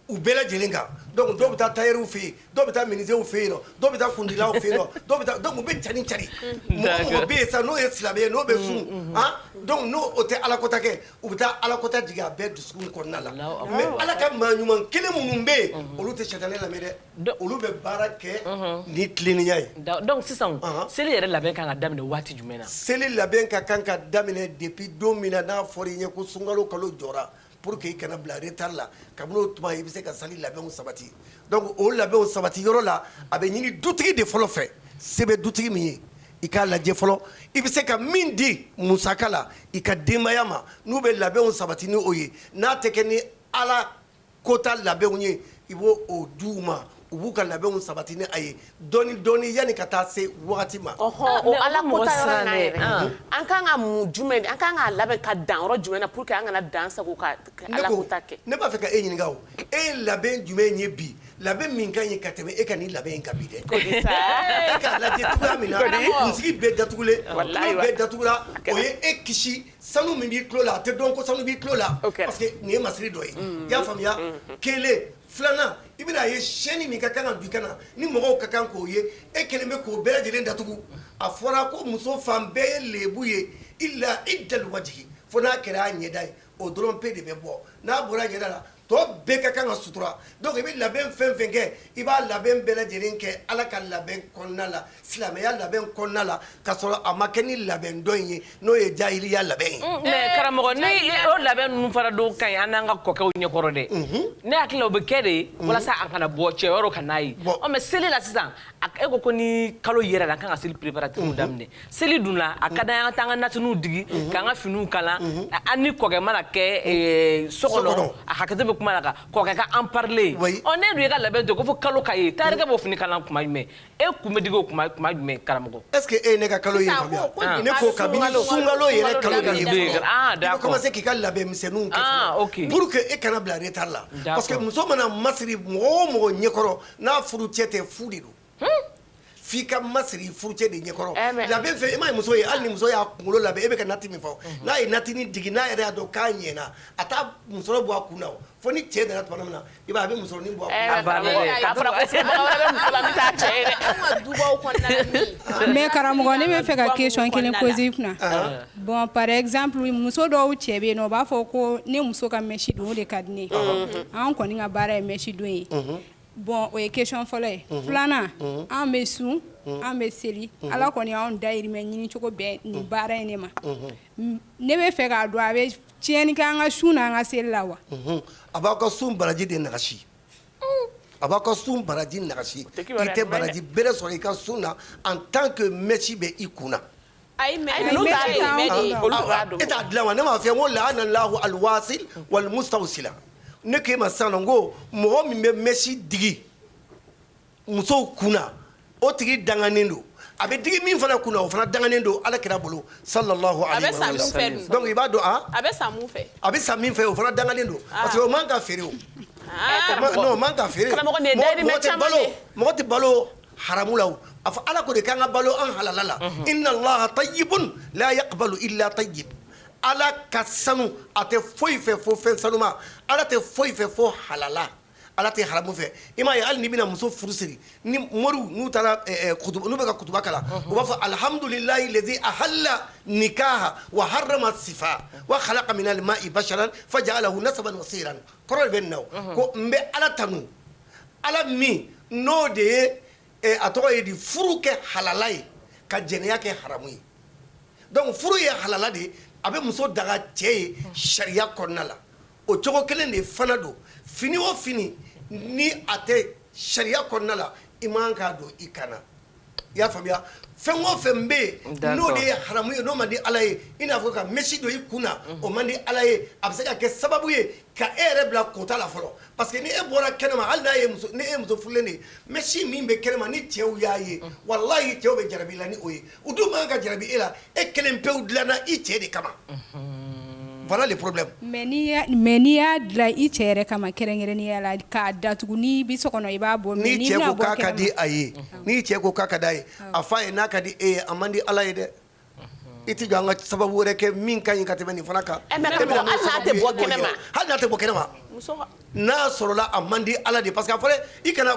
u bɛɛ lajɛlen kan donc dɔw bɛ taa tailleur fɛ yen dɔw bɛ taa menuisier fɛ yen dɔw bɛ taa kundilaw fɛ yen dɔw bɛ taa donc u bɛ cari cari mɔgɔ bɛ yen sisan n'o ye silamɛ ye n'o bɛ sun donc n'o tɛ ala kota kɛ u bɛ taa ala kota jigin a bɛɛ dusukun kɔnɔna la mais ala ka maa ɲuman kelen minnu bɛ yen olu tɛ sitanɛ lamɛn dɛ olu bɛ baara kɛ ni tilennenya ye donc sisan seli yɛrɛ labɛn ka kan ka daminɛ waati jumɛn na seli labɛn ka kan ka daminɛ depuis don min na n'a fɔra i ye ko sunkalo kalo jɔra Pour que i kana bila retard la kabini o tuma i bɛ se ka sali labɛnw sabati donc o labɛnw sabati yɔrɔ la a bɛ ɲini dutigi de fɔlɔ fɛ se bɛ dutigi min ye i k'a lajɛ fɔlɔ i bɛ se ka min di musaka la i ka denbaya ma n'u bɛ labɛnw sabati ni o ye n'a tɛ kɛ ni Ala kota labɛnw ye i b'o o di u ma u b'u ka labɛnw sabati ni a ye dɔɔni dɔɔni yani ka taa se wagati ma. Ɔhɔn o Ala ko ta yɔrɔ in na yɛrɛ an ka kan ka mun jumɛn de an ka kan k'a labɛn ka dan yɔrɔ jumɛn na pour que an kana dan sagon ka Ala ko ta kɛ? Ne ko ne b'a fɛ ka e ɲininka o e ye labɛn jumɛn ye bi labɛn min ka ɲi ka tɛmɛ e ka nin labɛn in kan bi dɛ kodi sa e k'a lajɛ cogoya min na kunsigi bɛɛ datugulen tulo bɛɛ datugula o ye e kisi sanu min b'i tulo la a tɛ dɔn ko sanu b'i tulo la parce que nin ye masiri dɔ ye i y'a faamuya kelen Filanan i bɛna a ye chaîne min ka kan ka don i kan na ni mɔgɔw ka kan k'o ye e kelen bɛ k'o bɛɛ lajɛlen datugu a fɔra ko muso fan bɛɛ ye lebu ye illa iddal wajhi fo n'a kɛra a ɲɛda ye o dɔrɔn pe de bɛ bɔ n'a bɔra ɲɛda la tɔ bɛɛ ka kan ka sutura donc i bɛ labɛn fɛn fɛn kɛ i b'a labɛn bɛɛ lajɛlen kɛ ala ka labɛn kɔnɔna la Silamɛya labɛn kɔnɔna la ka sɔrɔ a ma kɛ ni labɛn dɔ in ye n'o ye jahiliya labɛn ye, un, mais karamɔgɔ ni o labɛn ninnu fana dun ka ɲi an n'an ka kɔkɛw ɲɛkɔrɔ dɛ, unhun, ne hakili la o bɛ kɛ de walasa a kana bɔ cɛ wɛrɛw kan'a ye, bon, ɔ mais seli la sisan e ko ko ni kalo yɛrɛ la an ka kan ka seli préparatifs daminɛ, seli don na a ka d'an ye an ka taa an ka natiniw digi k'an ka finiw kala an ni kɔkɛ mana kɛ so kɔnɔ a hakɛto bɛ kuma la kɔkɛ ka en parler ɔ n'e dun y'i ka labɛn to yen ko fo kalo ka ye tailleurkɛ b'o fini kala tuma jumɛn e kun bɛ digi o kuma kuma jumɛn karamɔgɔ est ce que e ye ne ka kalo ye Sisan, faamuya ko- ko Ah. ne ko kabini sunkalo- sunkalo yɛrɛ sunkalo kalo labɛn kalo daminɛ. fɔlɔ, Ah, i bɛ d'accord. commencer k'i ka labɛnmisɛnninw kɛ Ah, fɔlɔ, ok. pour que e kana bila retard la D'accord. parce que muso mana masiri mɔgɔ o mɔgɔ ɲɛkɔrɔ n'a furu cɛ tɛ fu de don f'i ka masiri furu cɛ de ɲɛkɔrɔ Eh, mais- labɛn fɛ i m'a ye muso ye hali ni muso y'a kunkolo labɛn e bɛ ka nati min fɔ n'a ye natini digi n'a yɛrɛ y'a dɔn k'a ɲɛna a t'a musɔrɔ bɔ a kun na o fo ni cɛ nana tuma min na i b'a ye a bɛ musɔrɔnin bɔ a kunna. A banna dɛ. K'a fɔra ko filɛbaga wɛrɛ bɛ muso la min t'a cɛ ye dɛ. An ka dubaw kɔnɔna la min. Mais karamɔgɔ ne bɛ fɛ ka question kelen poser i kunna. Anhan. Bon par exemple muso dɔw cɛ bɛ yen nɔ u b'a fɔ ko ne muso ka mèche don o de ka di ne ye. Unhun. Anw kɔni ka baara ye mèche don ye. Unhun. Bon o ye question fɔlɔ ye. Unhun. Filanan. Unhun. Anw bɛ sun. Unhun. Anw bɛ seli. Unhun. Ala kɔni y'anw dayirimɛ ɲini cogo bɛn nin baara in de ma. Unhun. Ne bɛ fɛ k'a dɔn a bɛ Tiɲɛni kɛ an ka sun na an ka seli la wa a b'aw ka sun baraji de nagasi a b'aw ka sun baraji nagasi i tɛ baraji bɛrɛ sɔrɔ i ka sun na en tant que mèche bɛ i kun na e t'a dilan wa ne m'a f'i ye ko lahana lahu alwasil wal mustawsila ne k'i ma sisan ko mɔgɔ min bɛ mèche digi musow kun o tigi danganen don a bɛ digi min fana kun o fana danganen don ala kira bolo sallallahu alaihi wa sallam i b'a dɔn a bɛ san min fɛ o fana danganen don parce que o man k'a feere k'a feere mɔgɔ tɛ balo haramu la a fɔ ala ko de k'an ka balo an halala la inna allaha tayyibun la yaqbalu illa tayyib ala ka sanu a tɛ foyi fɛ fo fɛn sanuma ala tɛ foyi fɛ fo halala Ala tɛ haramu fɛ i m'a ye hali n'i bɛna muso furu siri ni moriw n'u taara n'u bɛ ka kutuba kalan u b'a fɔ alhamdulilahi lezi ahalla nikaha wa harrama sifa wa halaka min almai basaran fajaalahu nasaban wa siran kɔrɔ de bɛ na ko n bɛ ala tanu ala min n'o de ye a tɔgɔ ye di furu kɛ halala ye ka jɛnɛya kɛ haramu ye donc furu ye halala de ye a bɛ muso daga cɛ ye sariya kɔnɔna la o cogo kelen de fana don fini o fini ni a tɛ sariya kɔnɔna la i man k'a don i kan na i y'a faamuya fɛn o fɛn bɛ yen n'o de ye haramu ye n'o man di ala ye i n'a fɔ ka mèche don i kun na o man di ala ye a bɛ se ka kɛ sababu ye ka e yɛrɛ bila kota la fɔlɔ parce que ni e bɔra kɛnɛma hali n'a e muso furulen de ye mèche min bɛ kɛnɛma ni cɛw y'a ye wallahi cɛw bɛ jarabi i la ni o ye u dun man kan ka jarabi e la e kelen pewu dilanna i cɛ de kama voilà le problème mais n'i y'a dilan i cɛ yɛrɛ kama kɛrɛnkɛrɛnnenya la k'a datugu n'i bɛ so kɔnɔ i b'a bɔ mais n'i bɛna bɔ kɛnɛma n'i cɛ ko k'a ka di a ye n'i cɛ ko k'a ka d'a ye a fɔ a ye n'a ka di e ye a man di Ala ye dɛ i tɛ jɔ an ka sababu wɛrɛ kɛ min ka ɲi ka tɛmɛ nin fana kan hali n'a tɛ bɔ kɛnɛma n'a sɔrɔla a man di Ala de ye parce que a fɔra i kana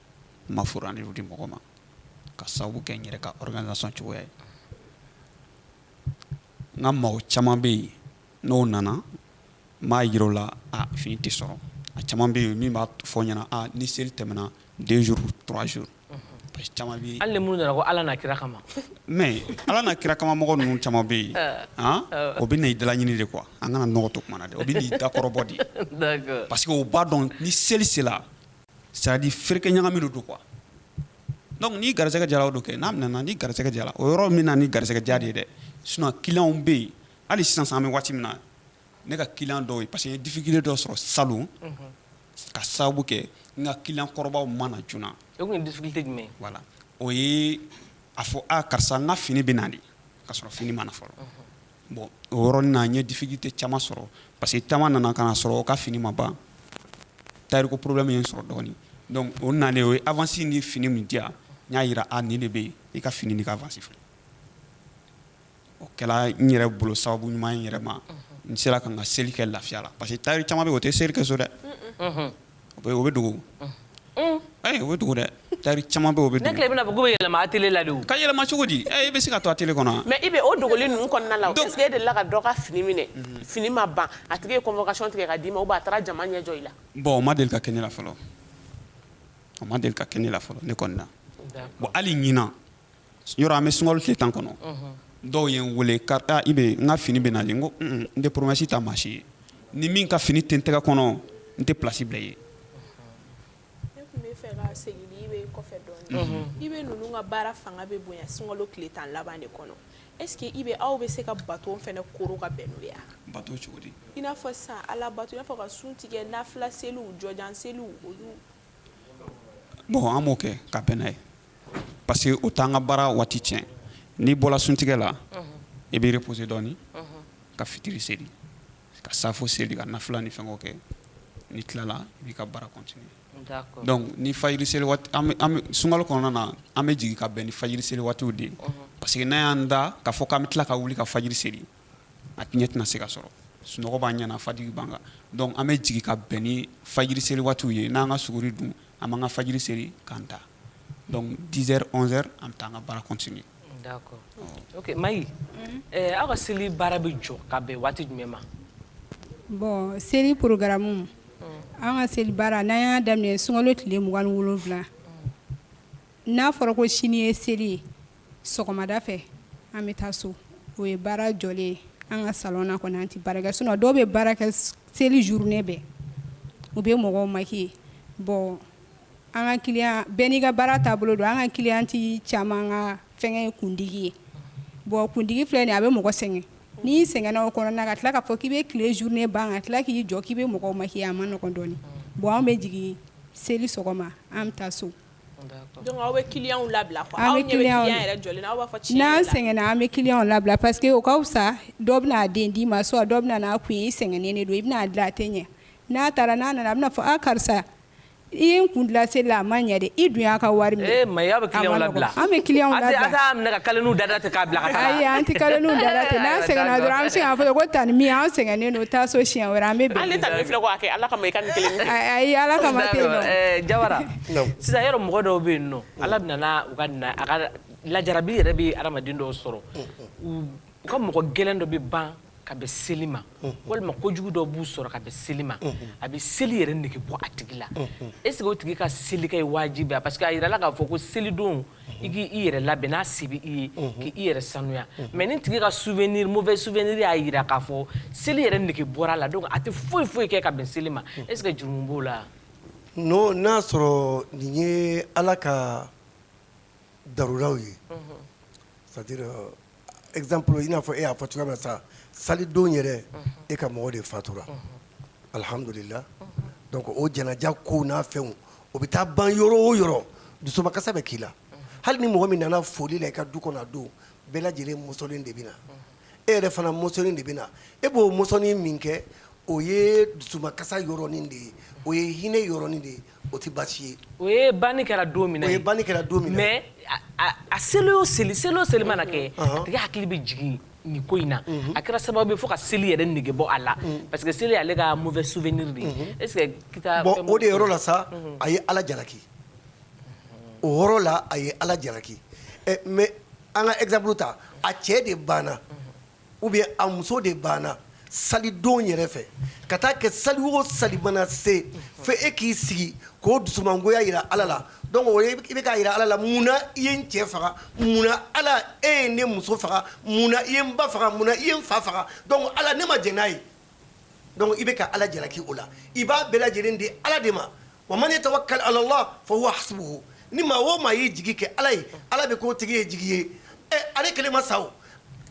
ma furu ani di mɔgɔ ma ka sababu kɛ n yɛrɛ ka organisation cogoya ye n ka mɔgɔ caman bɛ yen n'o nana n b'a jira u la a fini tɛ sɔrɔ a caman bɛ yen min b'a fɔ n ɲɛna a ni seli tɛmɛna deux jours trois jours parce que caman bɛ yen hali ni minnu nana ko Ala n'a kira kama mais Ala n'a kira kama mɔgɔ ninnu caman bɛ yen han o bɛ na i dalaɲini de quoi an kana nɔgɔ to kuma na dɛ o bɛ na i dakɔrɔbɔ de d'accord parce que u b'a dɔn ni seli sera c'est à dire ferekɛ ɲagami de don quoi donc ni garisɛgɛ jara o don kɛ n'a minɛna ni garisɛgɛ jara o yɔrɔ min na ni garisɛgɛ ja de ye dɛ sinon clients bɛ yen hali sisan sisan an bɛ waati min na ne ka client dɔw ye parce que n ye difficulté dɔ sɔrɔ salon ka sababu kɛ n ka client kɔrɔbaw ma na joona o tun ye difficulté jumɛn ye voilà o ye a fɔ a karisa n ka fini bɛ na de ka sɔrɔ fini ma na fɔlɔ. Bon o yɔrɔnin na n ye difficulté caman sɔrɔ parce que caman nana ka na sɔrɔ o ka fini ma ban tailleur ko problème ye n sɔrɔ dɔɔnin donc o nalen o ye avance ni fini min di yan n y'a jira a nin de bɛ yen i ka fini ni ka avance filɛ o kɛra n yɛrɛ bolo sababu ɲuman ye n yɛrɛ ma n sera ka n ka seli kɛ lafiya la parce que tailleur caman bɛ o tɛ seli kɛ so dɛ O bɛ dogo ayi o bɛ dogo dɛ tailleur caman bɛ bɛ ne tile bɛna fɔ' yɛlɛma atelier la ka yɛlɛma cogo di i bɛ se ka to atelier kɔnɔ mais IB o dogoli ninnu kɔnɔna la e delila ka dɔ ka fini minɛ fini ma ban a tigi ye convocation tigɛ ka di i ma ou bien a taara jama ɲɛ jɔ i la bon o ma deli ka kɛ ne la fɔlɔ o ma deli ka kɛ ne la fɔlɔ ne kɔni na bon hali ɲin yɔrɔ an bɛ sunkalo tile tan kɔnɔ dɔw ye n weele IB n ka fini bɛ na n ko n tɛ promesse ta maa si ye ni min ka fini tɛ n tɛgɛ kɔnɔ n tɛ place bila i ye ne tun b'a fɛ ka segin IB kɔfɛ dɔɔnin IB ninnu ka baara fanga bɛ bonya sunkalo tile tan laban de kɔnɔ est-ce que IB aw bɛ se ka bato fana koro ka bɛn n'o ye wa bato cogo di i n'a fɔ sisan ala bato i n'a fɔ ka sun tigɛ nafila seliw jɔjan seliw olu bon an b'o kɛ ka bɛn n'a ye parce que o t'an ka baara waati tiɲɛ n'i bɔra suntigɛ la i b'i reposer dɔɔni ka fitiri seli ka safo seli ka nafila ni fɛngɛw kɛ n'i tilala i b'i ka baara continuer d'accord donc ni fajiri seli waati an bɛ sunkalo kɔnɔna na an bɛ jigin ka bɛn ni fajiri seli waatiw de ye parce que n'an y'an da k'a fɔ k'an bɛ tila ka wuli ka fajiri seli a ɲɛ tɛna se ka sɔrɔ sunɔgɔ b'an ɲɛ na fajiri b'an kan donc an bɛ jigin ka bɛn ni fajiri seli waatiw ye n'an ka suguri dun an b'an ka fajiri seli k'an da donc 10 heures 11 heures an bɛ taa an ka baara continuer. D'accord ok Maï aw ka seli baara bɛ jɔ ka bɛn waati jumɛn ma? Bon seli programme an ka seli baara n'an y'a daminɛ sunkalo tile 27 n'a fɔra ko sini ye seli ye sɔgɔmada fɛ an bɛ taa so o ye baara jɔlen ye an ka salon na kɔni an tɛ baara kɛ sinon dɔw bɛ baara kɛ seli journée bɛɛ u bɛ mɔgɔw maquiller bon an ka client bɛɛ n'i ka baara taabolo don an ka cliente caman ka fɛngɛ ye kundigi ye bon kundigi filɛ nin ye a bɛ mɔgɔ sɛgɛn n'i sɛgɛnna o kɔnɔna ka tila k'a fɔ k'i bɛ tile journée ban ka tila k'i jɔ k'i bɛ mɔgɔw maquiller a man nɔgɔn dɔɔnin bon an bɛ jigin seli sɔgɔma an bɛ taa so Sɛgɛnna an bɛ clients labila parce que o ka fisa dɔ bɛna a den d'i ma soit dɔ bɛna n'a kun ye i sɛgɛnnen don i bɛna a dilan a tɛ ɲɛ n'a taara n'a nana a bɛna fɔ a karisa i ye n kun dilan seli la a ma ɲɛ dɛ i dun y'a ka wari minɛ tantie an sɛgɛnnen don taa so siɲɛ wɛrɛ an sisan yɛrɛ mɔgɔ dɔw bɛ yen nɔ Ala bɛ na a ka lajarabi yɛrɛ bɛ hadamaden dɔw sɔrɔ u ka mɔgɔ gɛlɛn dɔ bɛ ban ka bɛn seli ma walima kojugu dɔ b'u sɔrɔ ka bɛn seli ma a bɛ seli yɛrɛ nege bɔ a tigi la est ce que o tigi ka seli kɛ ye wajibi ye parce que a yirala k'a fɔ ko selidon i k'i i yɛrɛ labɛn n'a se bɛ i ye k'i i yɛrɛ sanuya mais ni tigi ka souvenir mauvais souvenir y'a jira k'a fɔ seli yɛrɛ nege bɔra a la donc a tɛ foyi foyi kɛ ka bɛn seli ma est ce que jurumu b'o la wa. Non n'a y'a sɔrɔ nin ye Ala ka daruraw ye, unhun, c'est à dire exemple i n'a fɔ e y'a fɔ cogoya min na sa salidon yɛrɛ e ka mɔgɔ de fatura, unhun, alihamudulila donc o janaja kow n'a fɛnw o bɛ taa ban yɔrɔ o yɔrɔ dusumakasa bɛ k'i la, unhun, hali ni mɔgɔ min nana foli la i ka du kɔnɔ a don bɛɛ lajɛlen mɔsɔnlen de bɛ na, unhun e yɛrɛ fana mɔsɔnlen de bɛ na e b'o mɔsɔnni min kɛ o ye dusumakasa yɔrɔnin de ye o ye hinɛ yɔrɔnin de ye o tɛ baasi ye o ye banni kɛra don min ye banni kɛra don min na mais a seli o seli seli o seli mana kɛ a tigi hakili bɛ jigin nin ko in na a kɛra sababu ye fo ka seli yɛrɛ nege bɔ a la parce que seli y'ale ka mauvais souvenir de ye o de yɔrɔ la sa a ye ala jalaki o yɔrɔ la a ye ala jalaki mais an ka exemple ta a cɛ de banna ou bien a muso de banna salidon yɛrɛ fɛ ka taa kɛ sali o sali mana se fo e k'i sigi k'o dusumangoya yira ala la donc o ye i bɛ k'a yira ala la munna i ye n cɛ faga munna ala e ye ne muso faga munna i ye n ba faga munna i ye n fa faga donc ala ne ma jɛn n'a ye donc i bɛ ka ala jalaki o la i b'a bɛɛ lajɛlen di ala de ma wa man yatawakkal alallah fa huwa hasbuhu ni maa o maa y'i jigi kɛ ala ye ala bɛ k'o tigi ye jigi ye ɛ ale kelen ma sa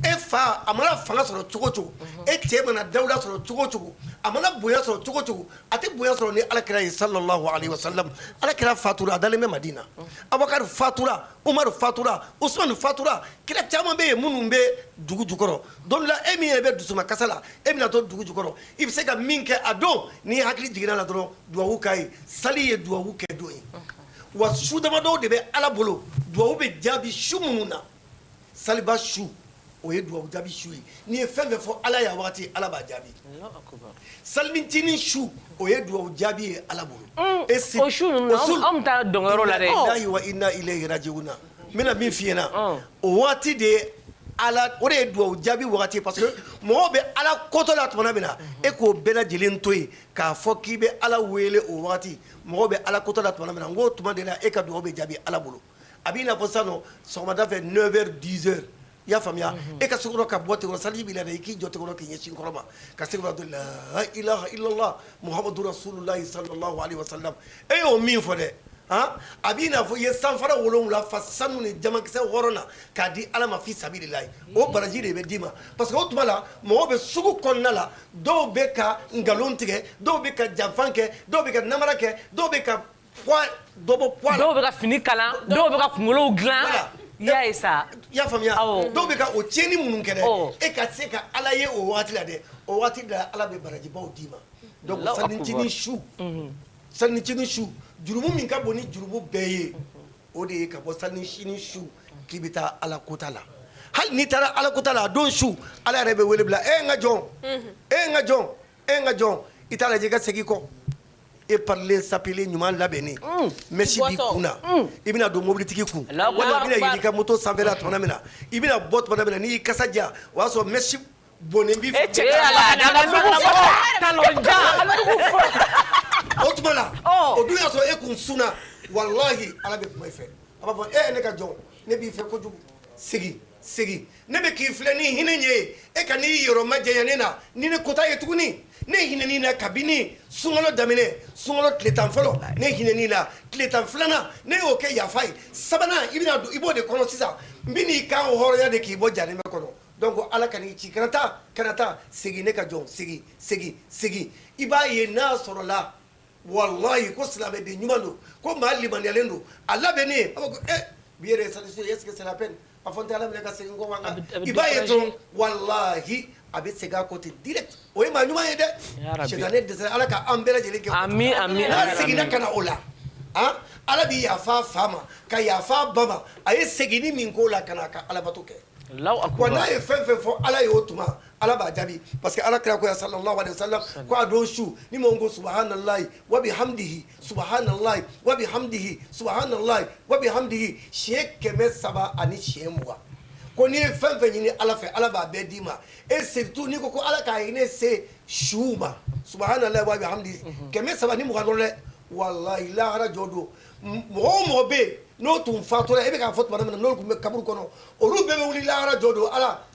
e fa a mana fanga sɔrɔ cogo cogo e cɛ mana dawula sɔrɔ cogo cogo a mana bonya sɔrɔ cogo cogo a tɛ bonya sɔrɔ ni ala kira ye sallallahu alaihi wasallam ala kira fatura a dalen bɛ madina a fatura Umaru fatura usumani fatura kira caman bɛ yen minnu bɛ dugu jukɔrɔ don dɔ la e min yɛrɛ bɛ dusuma kasa la e bɛna to dugu jukɔrɔ i bɛ se ka min kɛ a don n'i hakili jiginna la dɔrɔn duwawu k'a ye sali ye duwawu kɛ don ye wa su damadɔw de bɛ Ala bolo duwawu bɛ jaabi su minnu na Saliba su o ye dugawu jaabi su ye n'i ye fɛn fɛn fɔ ala y'a waati ala b'a jaabi salincinin su o ye dugawu jaabi ye ala bolo inna lillahi wa inna ilayhi rajiuna n bɛna min f'i ɲɛ na o waati de ye ala o de ye dugawu jaabi waati parce que mɔgɔ bɛ ala kotɔ la tuma min na e k'o bɛɛ lajɛlen to yen k'a fɔ k'i bɛ ala wele o waati mɔgɔ bɛ ala kotɔ la tuma min na n k'o tuma de la e ka dugawu bɛ jaabi ala bolo a b'i n'a fɔ sisan sɔgɔmada fɛ neuf heures dix heures i y'a faamuya e ka se ka bɔ ten saliji b'i la i k'i jɔ k'i ɲɛsin kɔrɔn ma ka se la ilaha illallah muhamadu rasulullahi sallallahu alaihi wasallam e y'o min fɔ dɛ a b'i n'a fɔ i ye sanfara wolowula fa sanu ni jamankisɛ hɔrɔn na k'a di ala ma fi sabilillahi o baraji de bɛ d'i ma parce que o tuma la mɔgɔ bɛ sugu kɔnɔna la dɔw bɛ ka nkalon tigɛ dɔw bɛ ka janfa kɛ dɔw bɛ ka namara kɛ dɔw bɛ dɔw bɛ ka fini kalan dɔw bɛ ka kunkolow dilan i y'a ye sa i y'a faamuya dɔw bɛ ka o tiɲɛni minnu kɛ dɛ e ka se ka ala ye o waati la dɛ o waati de la ala bɛ barajibaw d'i ma salincinin su salincinin su jurumu min ka bon ni jurumu bɛɛ ye o de ye ka bɔ salincinin su k'i bɛ taa ala kota la hali n'i taara ala kota la a don su ala yɛrɛ bɛ wele bila e n ka jɔn e n ka jɔn e n ka jɔn i t'a lajɛ i ka segin kɔ e parilen sapelen ɲuman labɛnnen mɛsi b'i kun na i bɛna don mobilitigi kun walima i bɛna yɛlɛ i ka moto sanfɛla tuma min na i bɛna bɔ tuma min na n'i y'i kasa diya o y'a sɔrɔ mɛsi bɔnnen b'i fɛ o tuma na o dun y'a sɔrɔ e kun sunna walahi Ala bɛ kuma i fɛ a b'a fɔ e ne ka jɔn ne b'i fɛ kojugu segin segin ne bɛ k'i filɛ ni hinɛ ɲɛ ye e kan'i yɔrɔ majanya ne na ni ne kota ye tuguni ne hinɛn'i na kabini sunkalo daminɛ sunkalo tile tan fɔlɔ ne hinɛn'i la tile tan filanan ne y'o kɛ yafa ye sabanan i bɛna don i b'o de kɔnɔ sisan n bɛn'i kanhɔrɔnya de k'i bɔ jahanama kɔnɔ donc ala ka n'i ci kana taa kana taa segin ne ka jɔn segin segin segin i b'a ye n'a sɔrɔla walayi ko silamɛden ɲuman don ko maa limaniyalen don a labɛnnen a b'a fɔ bi yɛrɛ est-ce que c'est la peine A fɔ n tɛ ala minɛ ka segin kɔ wa i b'a ye dɔrɔn walahi a bɛ segin a kɔ ten direct o ye maa ɲuman ye dɛ sitanɛ dɛsɛra ala ka an bɛɛ lajɛlen kɛ n'a seginna ka na o la ala bɛ yafa fa ma ka yafa ba ma a ye seginni min k'o la ka na ka alabato kɛ n'a ye fɛn fɛn fɔ ala ye o tuma ala b'a jaabi parce que ala kira ko ya sallallahu alaihi wasallam ko a don su ni maa ko subhanallahi wabihamdihi Subhanallahi wa bihamdihi subhanallahi wa bihamdihi siɲɛ kɛmɛ saba ani siɲɛ mugan ko n'i ye fɛn fɛn ɲini ala fɛ ala b'a bɛɛ d'i ma et surtout n'i ko ko ala ka hinɛ se su ma subhanallahi wa bihamdihi kɛmɛ saba ni mugan dɔrɔn dɛ wallahi lahara jɔ don mɔgɔ o mɔgɔ bɛ yen n'o tun fatura e bɛ k'a fɔ tuma min na n'olu tun bɛ kaburu kɔnɔ olu bɛɛ bɛ wuli lahara jɔ don ala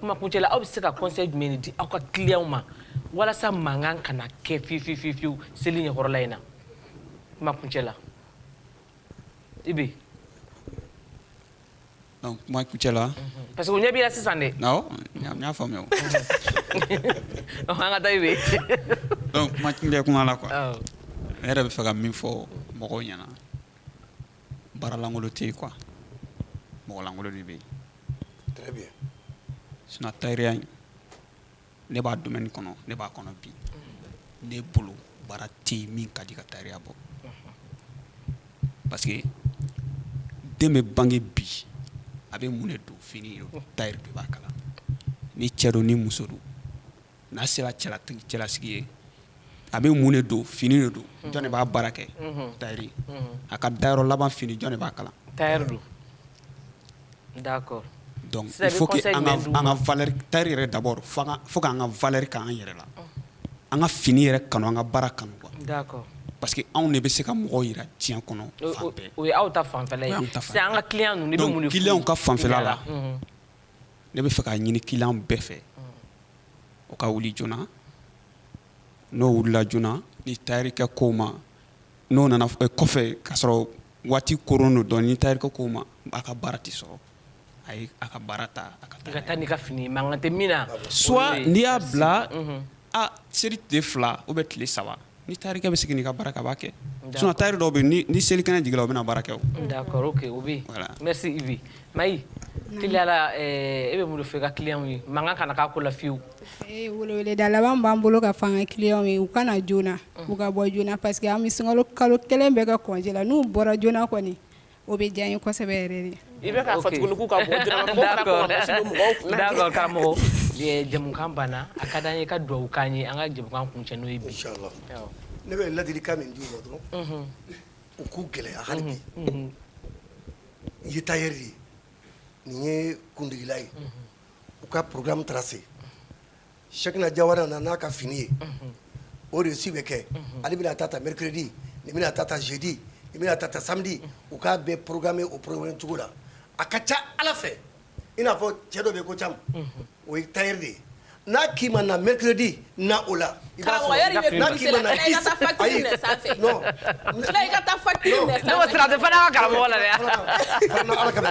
kuma kuncɛ la aw bɛ se ka conseil jumɛn de di aw ka clients ma walasa mankan kana kɛ fiyewu seli ɲɛkɔrɔla in na kuma kuncɛ la Ibe donc kuma kuncɛ la parce que u ɲɛ b'i la sisan dɛ awɔ n y'a faamuya an ka taa Ibe donc kuma kuncɛ kuma la quoi ne yɛrɛ bɛ fɛ ka min fɔ mɔgɔw ɲɛna baaralankolon tɛ yen quoi mɔgɔlankolon de bɛ yen, très bien, sinon tayɛriya in ne b'a domaine kɔnɔ ne b'a kɔnɔ bi ne bolo baara tɛ yen min ka di ka tayɛriya bɔ parce que den bɛ bange bi a bɛ mun de don fini tayɛri de b'a kala ni cɛ don ni muso don n'a sera cɛlasigi ye a bɛ mun de don fini de don jɔn de b'a baara kɛ tayɛri a ka dayɔrɔ laban fini jɔn de b'a kala tayɛri don donc il faut tayɛri yɛrɛ d'abord faut k'an ka valeur k'an yɛrɛ la an ka fini yɛrɛ kanu an ka baara kanu parce que anw de bɛ se ka mɔgɔw jira diɲɛ kɔnɔ fan bɛɛ o ye aw ta fanfɛla ye an ka client ninnu de bɛ mun de fɔ client ka fanfɛ la ne bɛ fɛ k'a ɲini client bɛɛ fɛ o ka wuli joona n'o wulila joona ni tayɛrikɛ k'o ma n'o nana kɔfɛ k'a sɔrɔ waati koronnen don dɔɔni ni tayɛrikɛ k'o ma a ka baara tɛ sɔrɔ ayi a ka baara ta a ka taa n'i ka fini mankan tɛ min na soit n'i y'a bila seli tile fila ou bien tile saba Ni tari bɛ sigi ka bara kaba kɛ sun tari dɔw bɛ ni seli kɛnɛ jigin u bɛna baara kɛ mɛ'la e bɛ bolo fɛ ka kile ye mankan kana k'a ko layewu da laban b'an bolo ka fanga kile ye u kana joona u ka bɔ joona pa que an bɛ sun kalo kelen bɛ ka kɔla n'u bɔra joona kɔni O bɛ diya n ye kosɛbɛ yɛrɛ de i bɛ k'a fɔ tugun k'u ka bɔ joona d'accord karamɔgɔ jɛmukan banna a ka da an ye ka dugawu k'an ye an ka jɛmukan kuncɛ n'o ye bi inchallah ne bɛ ladilikan min d'u ma dɔrɔn u k'u gɛlɛya hali bi i ye tayɛri ye nin ye kundigila ye u ka programme tracé Cheikhna Jawara nana n'a ka fini ye o reçu bɛ kɛ ale bɛna ta ta mercredi nin bɛna ta ta jeudi nin bɛna ta ta samedi u k'a bɛɛ programmer o programme cogo la a ka ca ala fɛ i n'a fɔ cɛ dɔ bɛ ko caman o ye tailleur de ye n'a k'i ma na mercredi na o la i b'a sɔrɔ a la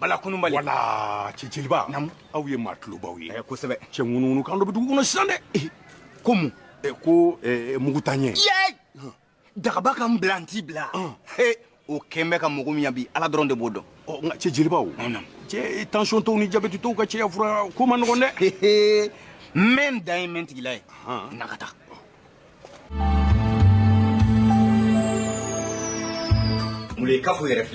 bala kununbali wala cɛciliba namu aw ye maa tulobaw ye eh, kosɛbɛ cɛ ŋunuŋunu kan dɔ bɛ dugu kɔnɔ sisan dɛ eh, ko mun eh, ko mugutanyɛ dagaba ka n bila n t'i bila o kɛn bɛ ka mɔgɔ min yan bi ala dɔrɔn de b'o dɔn oh, nka cɛ jelibaw cɛ tension tɔw ni jabɛti tɔw ka cɛya fura ko man nɔgɔn dɛ n bɛ n dan ye n bɛ n tigila ye na ka taa mule kafo yɛrɛ filɛ